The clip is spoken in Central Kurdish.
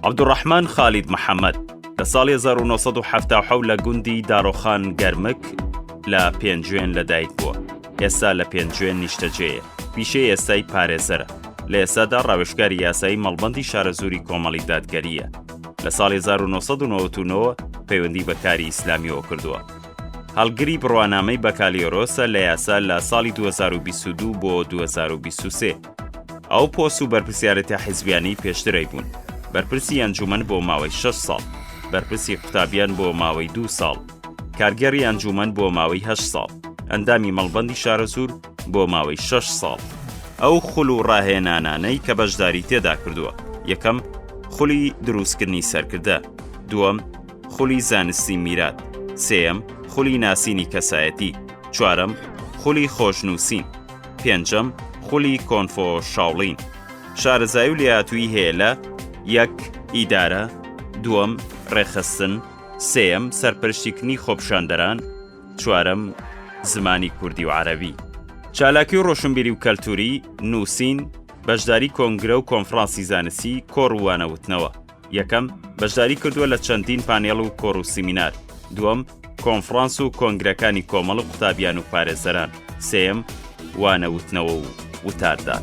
عەبدولڕەحمان خالید محەمەد لە ساڵی 1970 لە گوندی دارۆخان گەرمک لە پێنجوێن لەدایک بووە ئێستا لە پێنجوێن نیشتەجێە پیشەی ئێستای پارێزەرە لە ئێستادا ڕاوێشکاری یاسایی مەڵبندی شارەزووری کۆمەڵی دادگەریە لە ساڵی 1990 پەیوەندی بەکاری ئیسلامیەوە کردووە هەڵگری بڕوانامەی بەکالۆرۆسە لە یاسا لە ساڵی 2022 بۆ 2023 ئەو پۆست و بەرپسیارەتە حیزبیانی پێشترەی بوون بەرپرسی ئەنجومەن بۆ ماوەی 6 ساڵ بەرپرسی قوتابیان بۆ ماوەی دو ساڵ کارگەری ئەنجومەن بۆ ماوەی هە ساڵ ئەندامی مەڵبندی شارەزور بۆ ماوەی 6 ساڵ ئەو خول و ڕاهێنانانەی کە بەشداری تێدا کردووە یەکەم خولی دروستکردنی سەرکردە دووەم خولی زانستی میرات سێەم خولی ناسینی کەسایەتی چوارەم خولی خۆشنووسین پێنجەم خولی کۆنفۆ شاڵین شارەزای و لێهاتووی هەیە لە یەک ئیدارە دووەم ڕێخستن سێەم سەرپەرشتیکنی خۆپشاندەران چوارەم زمانی کوردی و عەربی چالاکی و ڕۆشنبیری و کەلتوری نووسین بەشداری کۆنگرە و کۆنفرانسی زانستی کۆڕوانەوتنەوە یەکەم، بەشداری کردووە لە چەندین پانێڵ و کۆڕ و سیمینار، دووەم، کۆنفرانس و کۆنگرەکانی کۆمەڵ و قوتابیان و پارێزەران، سێیەم، وانە وتنەوە و وتاردان.